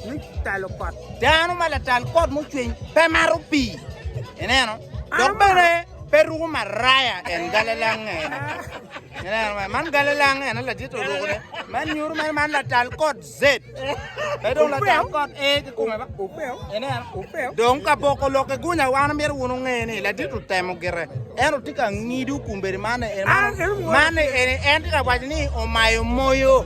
me talo kot. Dano ma latal kot mucwiny pe maro pii, ineno, dok bene pe ruko maraya en galalang ene. Ineno, man man galalang ene ladit oruko ne. Man nyuto man man latal kot zed. Pe dong latal kot e ki kome ba. Ineno, dong ka boko lok ki gunya wan myero wun unge ni ladit otemo gire. En otye ka ngidu kumbedi man en man en en tye ka waco ni omayo moyo.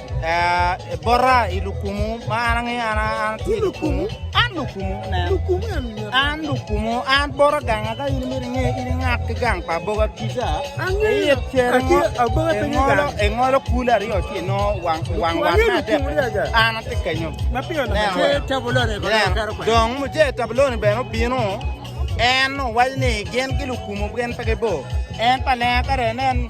Bota i lukumu ma an angeyo an atye lukumu an lukumu an lukumu an bota ganga ka in imito inge in ingat ki gang pa aboga kica iyit cere engolo engolo kulu aryo ci inongo wang wang wat me adek an atye kenyo dong muje tabuloni bene obino en owaco ni gin ki lukumu gin pe gibor en pa lenga kare nen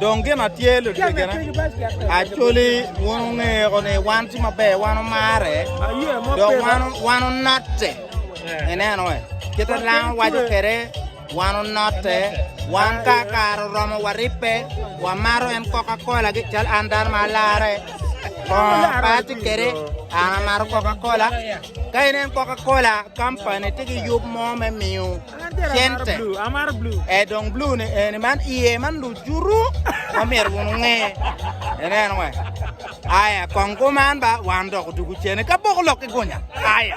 Dong gin ma tye lutegena, actually wun wungeo ni wan tye maber, wan wumarre, dok wan wan wunotte. Ineno eh? Kit ma lang waco kwede, wan wunotte, wan ka kare oromo waribbe, wamato en Coca-Cola gi cal an dano ma alarre. Bongo pa atye kwede, an amato Coca-Cola, Ka inen Coca-Cola company tye ki yub mo me miyo cente, e dong blue ni eni man iye man lucuru ma myero wun unge. Ineno we? Aya, kong kuman ba wan dok odugu cene ka boko lok ki gunya. Aya.